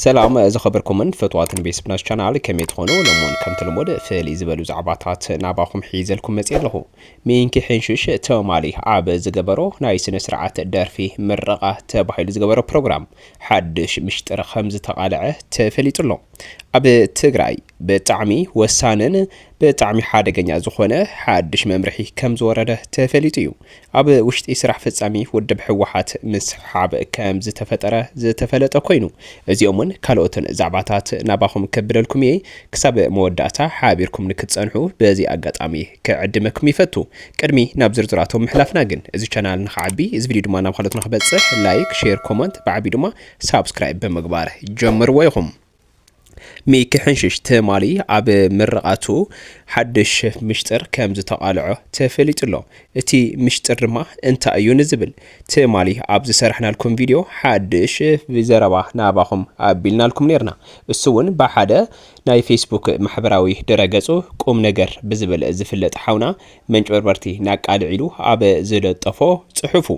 ሰላም ዝኸበርኩምን ፈትዋትን ቤስብናስ ቻናል ከመይ ትኾኑ ሎሞን ከምቲ ልሙድ ፍልይ ዝበሉ ዛዕባታት ናባኹም ሒዘልኩም መፅየ ኣለኹ ሚንኪ ሕንሽሽ ተማሊ ኣብ ዝገበሮ ናይ ስነ ስርዓት ደርፊ ምረቓ ተባሂሉ ዝገበሮ ፕሮግራም ሓድሽ ምሽጥር ከም ዝተቓልዐ ተፈሊጡ ኣሎ ኣብ ትግራይ ብጣዕሚ ወሳንን ብጣዕሚ ሓደገኛ ዝኾነ ሓድሽ መምርሒ ከም ዝወረደ ተፈሊጡ እዩ ኣብ ውሽጢ ስራሕ ፈፃሚ ውድብ ህወሓት ምስሕሓብ ከምዝተፈጠረ ዝተፈለጠ ኮይኑ እዚኦምን ካልኦትን ዛዕባታት ናባኹም ከብለልኩም እየ። ክሳብ መወዳእታ ሓቢርኩም ንክትፀንሑ በዚ ኣጋጣሚ ክዕድመኩም ይፈቱ። ቅድሚ ናብ ዝርዝራቶም ምሕላፍና ግን እዚ ቻናል ንክዓቢ እዚ ቪድዮ ድማ ናብ ኻልኦት ንክበፅሕ ላይክ፣ ሼር፣ ኮመንት ብዓብዩ ድማ ሳብስክራይብ ብምግባር ጀምርዎ ኢኹም። ሚኪ ሕንሽሽ ትማሊ ኣብ ምርቓቱ ሓድሽ ምሽጥር ከም ዝተቓልዖ ተፈሊጡ'ሎ። እቲ ምሽጥር ድማ እንታይ እዩ ንዝብል ትማሊ ኣብ ዝሰራሕናልኩም ቪድዮ ሓድሽ ዘረባ ናባኹም ኣቢልናልኩም ኔርና። እሱ'ውን ብሓደ ናይ ፌስቡክ ማሕበራዊ ድረገጹ ቁምነገር ብዝብል ዝፍለጥ ሓውና መንጭበርበርቲ ናቃልዕ ኢሉ ኣብ ዝለጠፎ ጽሑፉ።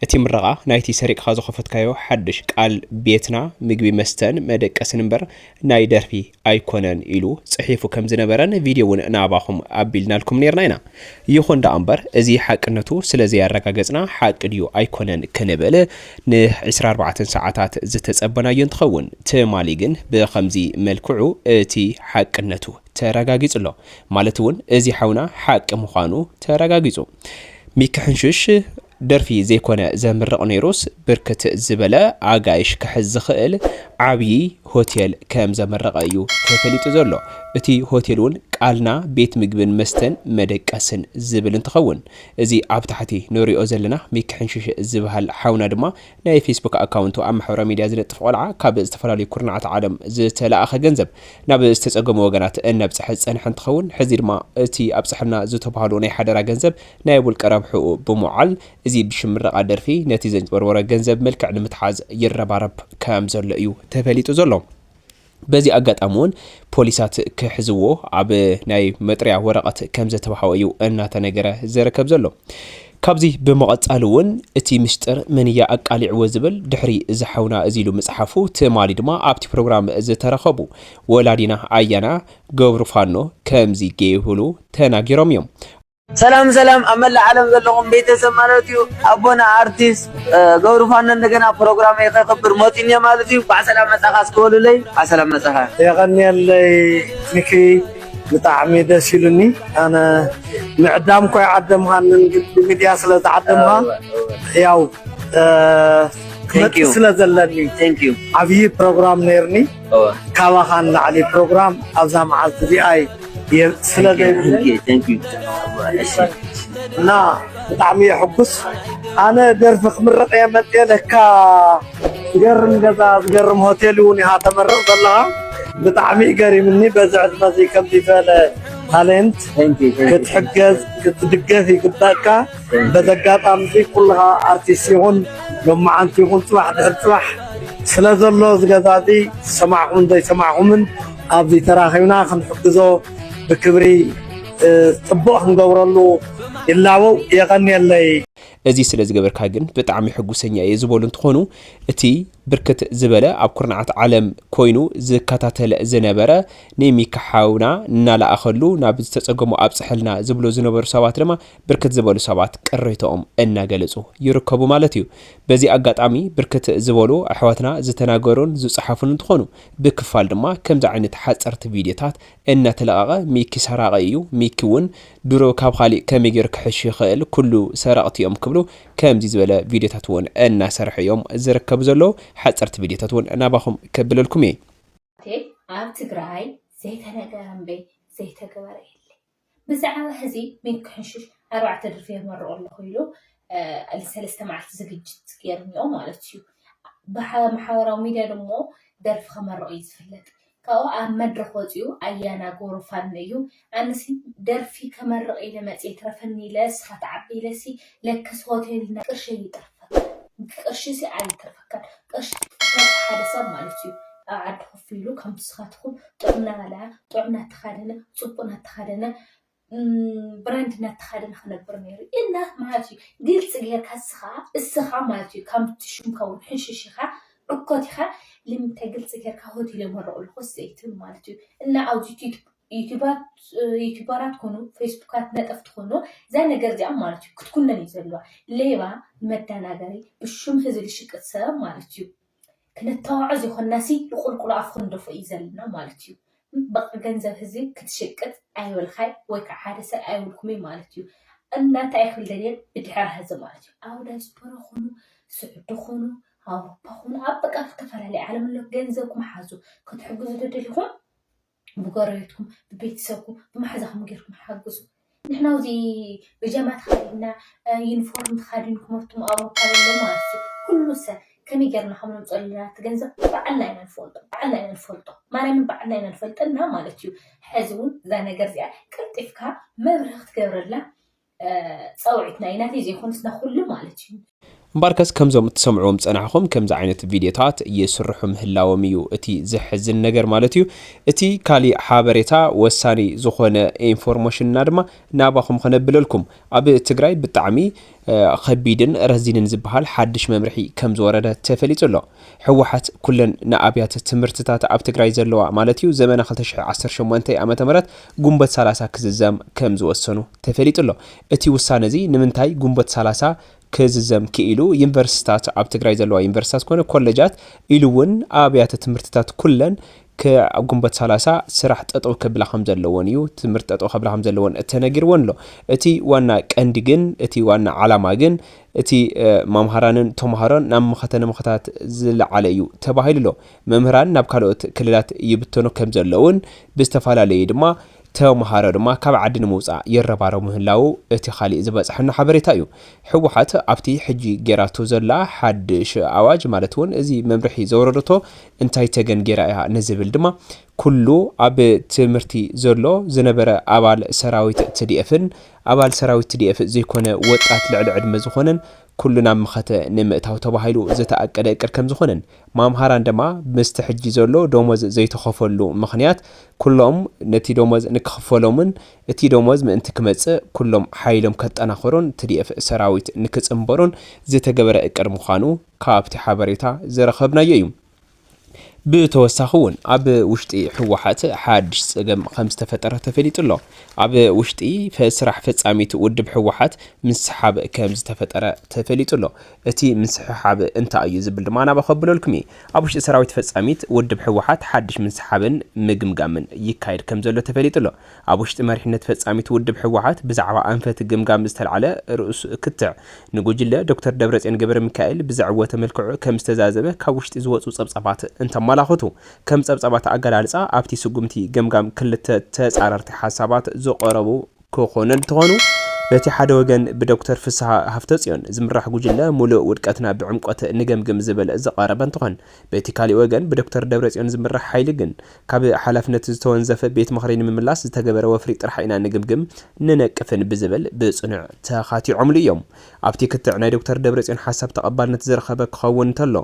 እቲ ምረቓ ናይቲ ሰሪቕኻ ዝኸፈትካዮ ሓድሽ ቃል ቤትና ምግቢ መስተን መደቀስን እምበር ናይ ደርፊ ኣይኮነን ኢሉ ጽሒፉ ከም ዝነበረን ቪድዮ እውን ናባኹም ኣቢልናልኩም ነርና ኢና። ይኹን ደኣ እምበር እዚ ሓቅነቱ ስለ ዘያረጋገጽና ሓቂ ድዩ ኣይኮነን ክንብል ን ዕስራ ኣርባዕተ ሰዓታት ዝተጸበናዮ እንትኸውን ትማሊ ግን ብኸምዚ መልክዑ እቲ ሓቅነቱ ተረጋጊጹ ኣሎ። ማለት እውን እዚ ሓውና ሓቂ ምዃኑ ተረጋጊጹ። ሚኪ ሕንሽሽ ደርፊ ዘይኮነ ዘምርቕ ነይሩስ ብርክት ዝበለ ኣጋይሽ ክሕዝ ዝኽእል ዓብዪ ሆቴል ከም ዘመረቐ እዩ ተፈሊጡ ዘሎ። እቲ ሆቴል እውን ቃልና ቤት ምግብን መስተን መደቀስን ዝብል እንትኸውን እዚ ኣብ ታሕቲ ንሪኦ ዘለና ሚኪ ሕንሽሽ ዝበሃል ሓውና ድማ ናይ ፌስቡክ ኣካውንቱ ኣብ ማሕበራዊ ሚድያ ዝለጥፍ ቆልዓ ካብ ዝተፈላለዩ ኩርናዓት ዓለም ዝተለኣኸ ገንዘብ ናብ ዝተፀገሙ ወገናት እነብፀሐ ዝፀንሐ እንትኸውን ሕዚ ድማ እቲ ኣብፀሐልና ዝተብሃሎ ናይ ሓደራ ገንዘብ ናይ ውልቀ ረብሕኡ ብምውዓል እዚ ብሽም ምረቓ ደርፊ ነቲ ዘንጭበርበሮ ገንዘብ መልክዕ ንምትሓዝ ይረባረብ ከምዘሎ እዩ ተፈሊጡ ዘሎ። በዚ ኣጋጣሚ እውን ፖሊሳት ክሕዝዎ ኣብ ናይ መጥርያ ወረቐት ከምዘተባሃወ እዩ እናተነገረ ዘረከብ ዘሎ። ካብዚ ብምቐፃል እውን እቲ ምስጢር መን እያ ኣቃሊዕዎ ዝብል ድሕሪ እዚ ሓውና እዚ ኢሉ ምፅሓፉ ትማሊ ድማ ኣብቲ ፕሮግራም ዝተረኸቡ ወላዲና ኣያና ገብሩፋኖ ከምዚ ገይብሉ ተናጊሮም እዮም። ሰላም ሰላም ኣብ መላእ ዓለም ዘለኹም ቤተሰብ ማለት እዩ ኣቦና ኣርቲስት ገብሩ ፋኖ እንደገና ፕሮግራመይ ከክብር መፂኡ እኒኦ ማለት እዩ ባዕ ሰላም መፃኻ እስኪ በሉለይ ባዕ ሰላም መፃኻ የቐንየለይ ሚኪ ብጣዕሚ ደስ ኢሉኒ ኣነ ምዕዳም ኮይ ዓደምኻንን ግን ብሚድያ ስለ ዝዓደምኻ ያው ክመፅእ ስለ ዘለኒ ዓብዪ ፕሮግራም ነይርኒ ካባኻ ንላዕሊ ፕሮግራም ኣብዛ መዓልቲ እዚኣይ ስለ እና ብጣዕሚ እየ ሕጉስ ኣነ ደርፊ ክምረቕ እየ መጤ ለካ ዝገርም ገዛ ዝገርም ሆቴል እውን ኢኻ ተመርቕ ዘለኻ ብጣዕሚ እዩ ገሪምኒ በዚ ዕድመ እዚ ከምዚ ዝበለ ታለንት ክትሕገዝ ክትድገፍ ይግበእካ በዚ ኣጋጣሚ'ዚ ኩልኻ ኣርቲስት ይኹን ሎማዓንቲ ይኹን ጽባሕ ድሕሪ ጽባሕ ስለ ዘሎ እዚ ገዛ'ዚ ዝሰማዕኩምን ዘይሰማዕኩምን ኣብዚ ተራኺብና ክንሕግዞ ብክብሪ ጽቡቕ ክንገብረሉ ይላበው። የቐንየለይ። እዚ ስለ ዝገበርካ ግን ብጣዕሚ ሕጉሰኛ እየ ዝበሉ እንትኾኑ እቲ ብርክት ዝበለ ኣብ ኩርናዓት ዓለም ኮይኑ ዝከታተል ዝነበረ ንሚካ ሓውና እናለኣኸሉ ናብ ዝተፀገሙ ኣብፅሐልና ዝብሉ ዝነበሩ ሰባት ድማ ብርክት ዝበሉ ሰባት ቅሬተኦም እናገለፁ ይርከቡ ማለት እዩ። በዚ ኣጋጣሚ ብርክት ዝበሉ ኣሕዋትና ዝተናገሩን ዝፀሓፉን እንትኾኑ ብክፋል ድማ ከምዚ ዓይነት ሓፀርቲ ቪድዮታት እናተለቐቐ ሚኪ ሰራቒ እዩ፣ ሚኪ እውን ድሮ ካብ ኻሊእ ከመይ ገይሩ ክሕሽ ይኽእል ኩሉ ሰረቕቲ እዮም ክብሉ ከምዚ ዝበለ ቪድዮታት እውን እናሰርሑ እዮም ዝርከቡ ዘለዉ። ሓፀርቲ ቪድዮታት እውን ናባኹም ከብለልኩም እየ። ኣብ ትግራይ ዘይተነገረ እምበይ ዘይተገበረ የለይ። ብዛዕባ ሕዚ ሚኪሕንሹሽ ኣርባዕተ ድርፊ የመርቆ ኣለኹ ኢሉ ልሰለስተ መዓልቲ ዝግጅት ገይሩ እኒኦ ማለት እዩ። ብማሕበራዊ ሚድያ ድሞ ደርፊ ከመርቕ እዩ ዝፍለጥ። ካብኡ ኣብ መድረኽ ወፂኡ ኣያና ጎሩ ፋኖ እዩ። ኣነሲ ደርፊ ከመርቕ ኢለ መፅየ ይትረፈኒ ኢለ ንስኻ ትዓቢ ኢለሲ ለክስ ሆቴል እና ቅርሺ ኣይተርፈካን ቅርሺ ሲ ኣይተርፈካን ቅርሺ ትሰርቅ ሓደ ሰብ ማለት እዩ ኣብ ዓዲ ኮፍ ኢሉ ከም ንስኻትኩም ጥዑም እናበልዐ ጥዑም እናተኻደነ ፅቡቅ እናተኻደነ ብራንድ እናተኻደነ ክነብር ነይሩ እና ማለት እዩ ግልፂ ጌርካ እስኻ እስኻ ማለት እዩ ከምቲ ሽምካ እውን ሕንሽሽ ኢኻ ዕኮት ኢኻ ልምንታይ ግልፂ ጌርካ ሆቴል የመረቑ ኣለኹ ስለይትብል ማለት እዩ እና ኣብዚ ቲዩቱብ ዩቱባት ኮኑ ፌስቡካት ነጠፍቲ ኮኑ እዛ ነገር እዚኣ ማለት እዩ ክትኩነን እዩ ዘለዋ ሌባ መዳናገሪ ብሹም ህዝቢ ዝሽቅጥ ሰብ ማለት እዩ ክነተዋዖ ዘይኮናሲ ብቁልቁሉ ኣፍ ክንደፎ እዩ ዘለና ማለት እዩ በቃ ገንዘብ ህዝቢ ክትሽቅጥ ኣይበልካይ ወይ ከዓ ሓደ ሰብ ኣይብልኩምይ ማለት እዩ እና እንታይ ክብል ደልየ ብድሕሪ ህዝቢ ማለት እዩ ኣብ ዳያስፖራ ኮኑ ስዑዲ ኮኑ ኣውሮፓ ኮኑ ኣብ በቃ ዝተፈላለዩ ዓለም ኣሎ ገንዘብኩም ሓዙ ክትሕግዙ ደደሊኹም ብጎረቤትኩም ብቤተሰብኩም ብማሓዛኹም ጌርኩም ሓግዙ ንሕና ኣብዚ ብጃማ ተኸዲንና ዩኒፎርም ተኻዲንኩም ኣቱም ኣውሮፓ ዘሎ ማለት እዩ ኩሉ ሰብ ከመይ ጌርና ከም ነምፅኦ ኣለና እቲ ገንዘብ ባዕልና ኢና ንፈልጦ ባዕልና ኢና ንፈልጦ ማርያምን ባዕልና ኢና ንፈልጠና ማለት እዩ ሕዚ እውን እዛ ነገር እዚኣ ቀልጢፍካ መብርሂ ክትገብረላ ጸውዒት ናይ ናተይ ዘይኮነስ ናይ ኩሉ ማለት እዩ። እምበኣርከስ ከምዞም እትሰምዕዎም ዝጸናሕኹም ከምዚ ዓይነት ቪድዮታት ይስርሑ ምህላዎም እዩ እቲ ዘሕዝን ነገር ማለት እዩ። እቲ ካሊእ ሓበሬታ ወሳኒ ዝኾነ ኢንፎርሞሽን እና ድማ ናባኹም ኸነብለልኩም ኣብ ትግራይ ብጣዕሚ ኸቢድን ረዚንን ዝብሃል ሓድሽ መምርሒ ከምዝወረደ ተፈሊጡ ኣሎ። ህወሓት ኩለን ንኣብያተ ትምህርትታት ኣብ ትግራይ ዘለዋ ማለት እዩ ዘመነ ክልተ ሽሕ ዓሰርተ ሸሞንተ ዓመተ ምህረት ጉንበት ሰላሳ ክዝዘም ከምዝወሰኑ ተፈሊጡ ኣሎ። እቲ ውሳነ እዚ ንምንታይ ጉንበት ሰላሳ ክዝዘም ክኢሉ ዩኒቨርሲቲታት ኣብ ትግራይ ዘለዋ ዩኒቨርሲቲታት ኮነ ኮለጃት ኢሉ እውን ኣብያተ ትምህርትታት ኩለን ክዕ ጉንበት ሰላሳ ስራሕ ጠጠው ከብላ ከምዘለዎን እዩ ትምህርቲ ጠጠው ከብላ ከምዘለዎን ተነጊርዎን ኣሎ። እቲ ዋና ቀንዲ ግን እቲ ዋና ዓላማ ግን እቲ ማምሃራንን ተምሃሮን ናብ መኸተ ንምኸታት ዝለዓለ እዩ ተባሂሉ ኣሎ። መምህራን ናብ ካልኦት ክልላት ይብተኑ ከምዘለውን ብዝተፈላለዩ ድማ ተምሃሮ ድማ ካብ ዓዲ ንምውፃእ ይረባረቡ ምህላዉ እቲ ካሊእ ዝበፀሐና ሓበሬታ እዩ። ህወሓት ኣብቲ ሕጂ ገይራቶ ዘላ ሓዱሽ ኣዋጅ ማለት እውን እዚ መምርሒ ዘውረደቶ እንታይ ተገን ገይራ እያ ንዝብል ድማ ኩሉ ኣብ ትምህርቲ ዘሎ ዝነበረ ኣባል ሰራዊት ትዲኤፍን ኣባል ሰራዊት ትዲኤፍ ዘይኮነ ወጣት ልዕሊ ዕድመ ዝኾነን ኩሉ ናብ መኸተ ንምእታው ተባሂሉ ዝተኣቀደ እቅድ ከምዝኾነን ማምሃራን ደማ ምስቲ ሕጂ ዘሎ ዶሞዝ ዘይተኸፈሉ ምኽንያት ኩሎም ነቲ ዶሞዝ ንክኽፈሎምን እቲ ዶሞዝ ምእንቲ ክመጽእ ኩሎም ሓይሎም ከጠናኽሩን ትዲኤፍ ሰራዊት ንክጽንበሩን ዝተገበረ እቅድ ምዃኑ ካብቲ ሓበሬታ ዝረኸብናዮ እዩ። ብተወሳኺ እውን ኣብ ውሽጢ ህወሓት ሓድሽ ፀገም ከምዝተፈጠረ ተፈሊጡ ኣሎ። ኣብ ውሽጢ ስራሕ ፈፃሚት ውድብ ህወሓት ምስሓብ ከምዝተፈጠረ ተፈሊጡ ኣሎ። እቲ ምስሕሓብ እንታይ እዩ ዝብል ድማ ናባ ከብለልኩም እየ። ኣብ ውሽጢ ሰራዊት ፈፃሚት ውድብ ህወሓት ሓድሽ ምስሓብን ምግምጋምን ይካየድ ከምዘሎ ተፈሊጡ ኣሎ። ኣብ ውሽጢ መሪሕነት ፈጻሚት ውድብ ህወሓት ብዛዕባ ኣንፈት ግምጋም ዝተላዕለ ርእሱ ክትዕ፣ ንጉጅለ ዶክተር ደብረጽዮን ገብረሚካኤል ብዘዕወተ መልክዑ ከም ዝተዛዘመ ካብ ውሽጢ ዝወጹ ጸብጻባት እንተመላኽቱ፣ ከም ጸብጻባት ኣገላልጻ ኣብቲ ስጉምቲ ገምጋም ክልተ ተጻረርቲ ሓሳባት ዝቐረቡ ክኾኑ እንተኾኑ፣ በቲ ሓደ ወገን ብዶክተር ፍስሃ ሃፍተጽዮን ዝምራሕ ጉጅለ ሙሉእ ውድቀትና ብዕምቆት ንገምግም ዝብል ዝቐረበ እንትኾን፣ በቲ ካሊእ ወገን ብዶክተር ደብረጽዮን ዝምራሕ ሓይሊ ግን ካብ ሓላፍነት ዝተወንዘፈ ቤት ምኽሪ ንምምላስ ዝተገበረ ወፍሪ ጥራሕ ኢና ንግምግም፣ ንነቅፍን ብዝብል ብፅኑዕ ተኻቲዖምሉ እዮም። ኣብቲ ክትዕ ናይ ዶክተር ደብረፅዮን ሓሳብ ተቐባልነት ዝረኸበ ክኸውን እንተሎ፣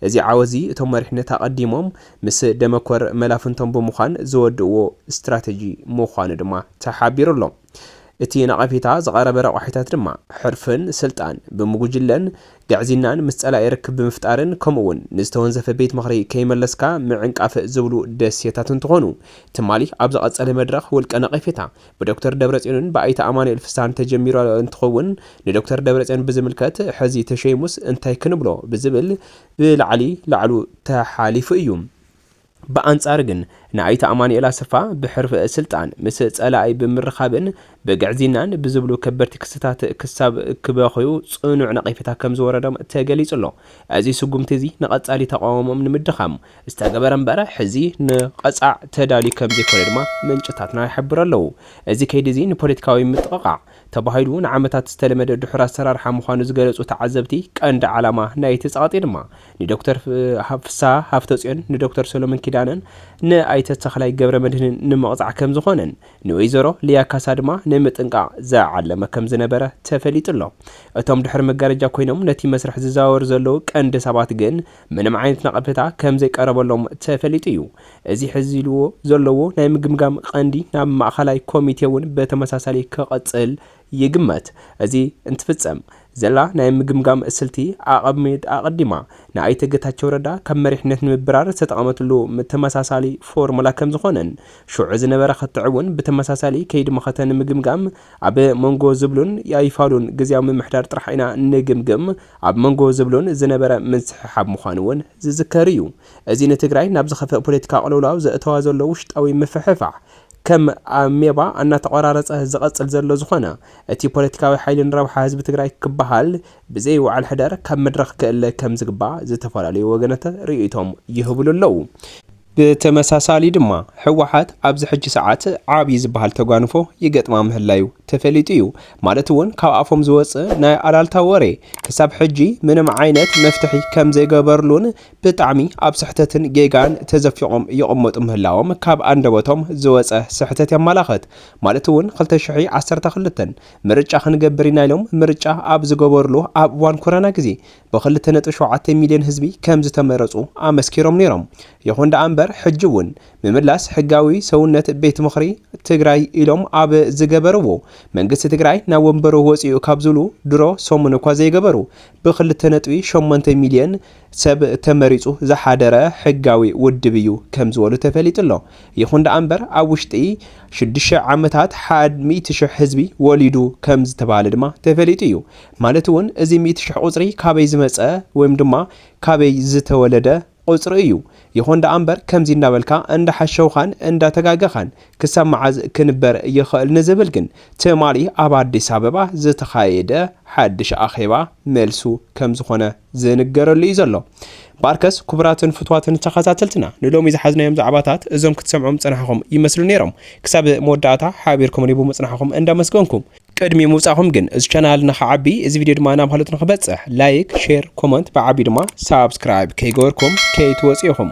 እዚ ዓወት እዚ እቶም መሪሕነት ኣቐዲሞም ምስ ደመኮር መላፍንቶም ብምዃን ዝወድእዎ ስትራተጂ ምዃኑ ድማ ተሓቢሩ ኣሎ። እቲ ነቐፌታ ዝቐረበ ረቋሒታት ድማ ሕርፍን ስልጣን ብምጉጅለን ግዕዝይናን ምስ ፀላኢ ርክብ ብምፍጣርን ከምኡ እውን ንዝተወንዘፈ ቤት ምኽሪ ከይመለስካ ምዕንቃፍ ዝብሉ ደሴታት እንትኾኑ ትማሊ ኣብ ዝቐፀለ መድረኽ ውልቀ ነቐፌታ ብዶክተር ደብረፅዮንን ብኣይተ ኣማኑኤል ፍስሃን ተጀሚሩ እንትኸውን ንዶክተር ደብረፅዮን ብዝምልከት ሕዚ ተሸይሙስ እንታይ ክንብሎ ብዝብል ብላዕሊ ላዕሉ ተሓሊፉ እዩ። ብኣንጻሩ ግን ንኣይተ ኣማኑኤል ኣሰፋ ብሕርፊ ስልጣን ምስ ጸላኢ ብምርኻብን ብግዕዝይናን ብዝብሉ ከበድቲ ክስታት ክሳብ ክበኽዩ ጽኑዕ ነቐፌታ ከም ዝወረዶም ተገሊጹ ኣሎ። እዚ ስጉምቲ እዚ ንቐጻሊ ተቓውሞኦም ንምድኻም ዝተገበረ እምበር ሕዚ ንቐጻዕ ተዳልዩ ከም ዘይኮነ ድማ ምንጭታትና ይሕብሩ ኣለዉ። እዚ ከይዲ እዚ ንፖለቲካዊ ምጥቕቓዕ ተባሂሉ ንዓመታት ዝተለመደ ድሑር ኣሰራርሓ ምዃኑ ዝገለጹ ተዓዘብቲ ቀንዲ ዓላማ ናይቲ ጸቕጢ ድማ ንዶክተር ፍስሃ ሃፍተፅዮን፣ ንዶክተር ሰሎሞን ኪዳነን ንኣይተ ተኽላይ ገብረመድህንን ንምቕፃዕ ከምዝኾነን ንወይዘሮ ሊያ ካሳ ድማ ንምጥንቃቕ ዝዓለመ ከምዝነበረ ተፈሊጡ ኣሎ። እቶም ድሕሪ መጋረጃ ኮይኖም ነቲ መስርሕ ዝዘዋወሩ ዘለዉ ቀንዲ ሰባት ግን ምንም ዓይነት ነቐፌታ ከምዘይቀረበሎም ተፈሊጡ እዩ። እዚ ሕዚ ኢልዎ ዘለዉ ናይ ምግምጋም ቐንዲ ናብ ማእኸላይ ኮሚቴ እውን ብተመሳሳሊ ክቕፅል ይግመት። እዚ እንትፍጸም ዘላ ናይ ምግምጋም ስልቲ ኣቐሚጥ ኣቐዲማ ንኣይተ ገታቸው ረዳ ካብ መሪሕነት ንምብራር ዝተጠቐመትሉ ተመሳሳሊ ፎርሙላ ከምዝኾነን ሽዑ ዝነበረ ክትዕ'ውን ብተመሳሳሊ ከይዲ መኸተ ንምግምጋም ኣብ መንጎ ዝብሉን ኣይፋሉን ግዝያዊ ምምሕዳር ጥራሕ ኢና ንግምግም ኣብ መንጎ ዝብሉን ዝነበረ ምንስሕሓብ ምዃኑ'ውን ዝዝከር እዩ። እዚ ንትግራይ ናብ ዝኸፍእ ፖለቲካዊ ቅልውላው ዘእተዋ ዘሎ ውሽጣዊ ምፍሕፋሕ ከም ኣሜባ ኣናተቆራረፀ ዝቐፅል ዘሎ ዝኾነ እቲ ፖለቲካዊ ሓይሊ ንረብሓ ህዝቢ ትግራይ ክበሃል ብዘይ ውዓል ሕደር ካብ መድረኽ ክእለ ከም ዝግባእ ዝተፈላለዩ ወገናት ርኢይቶም ይህብሉ ኣለው። ብተመሳሳሊ ድማ ህወሓት ኣብዚ ሕጂ ሰዓት ዓብይ ዝበሃል ተጓንፎ ይገጥማ ምህላዩ ተፈሊጡ እዩ። ማለት እውን ካብ ኣፎም ዝወፅእ ናይ ኣላልታ ወሬ ክሳብ ሕጂ ምንም ዓይነት መፍትሒ ከም ዘይገበርሉን ብጣዕሚ ኣብ ስሕተትን ጌጋን ተዘፊቖም ይቕመጡ ምህላዎም ካብ ኣንደበቶም ዝወጸ ስሕተት የማላኽት። ማለት እውን ክልተ ሽሕ ዓሰርተ ክልተ ምርጫ ክንገብር ኢና ኢሎም ምርጫ ኣብ ዝገበሩሉ ኣብ እዋን ኮረና ግዜ ብክልተ ነጥቢ ሸውዓተ ሚልዮን ህዝቢ ከምዝተመረጹ ኣመስኪሮም ነይሮም። ይኹን ደኣ እምበር ሕጂ እውን ምምላስ ሕጋዊ ሰውነት ቤት ምኽሪ ትግራይ ኢሎም ኣብ ዝገበርዎ መንግስቲ ትግራይ ናብ ወንበሩ ወጺኡ ካብ ዝብሉ ድሮ ሰሙን እኳ ዘይገበሩ ብክልተ ነጥቢ ሸሞንተ ሚልየን ሰብ ተመሪፁ ዝሓደረ ሕጋዊ ውድብ እዩ ከምዝበሉ ተፈሊጡ'ሎ። ይኹን ደኣ'ምበር ኣብ ውሽጢ ሽዱሽተ ዓመታት ሓድ ሚእቲ ሽሕ ህዝቢ ወሊዱ ከምዝተብሃለ ድማ ተፈሊጡ እዩ። ማለት'ውን እዚ ሚእቲ ሽሕ ቁፅሪ ካበይ ዝመፀ ወይም ድማ ካበይ ዝተወለደ? ቁጽሪ እዩ ይኹን ደኣ እምበር ከምዚ እንዳበልካ እንዳሓሸውኻን እንዳተጋገኻን ክሳብ መዓዝ ክንበር ይኽእል ንዝብል ግን ትማሊ ኣብ ኣዲስ ኣበባ ዝተኻየደ ሓድሽ ኣኼባ መልሱ ከምዝኾነ ዝንገረሉ እዩ ዘሎ ባርከስ ኩቡራትን ፍትዋትን ተኸታተልትና ንሎሚ ዝሓዝናዮም ዛዕባታት እዞም ክትሰምዑም ዝጸናሕኹም ይመስሉ ነይሮም ክሳብ መወዳእታ ሓቢርኩምኒ ብምጽናሕኹም እንዳመስገንኩ ቅድሚ ምውጻኹም ግን እዚ ቻናል ንክዓቢ እዚ ቪድዮ ድማ ናብ ሃሎት ንክበጽሕ ላይክ ሼር ኮመንት ብዓቢ ድማ ሳብስክራይብ ከይገበርኩም ከይትወጹ ኢኹም።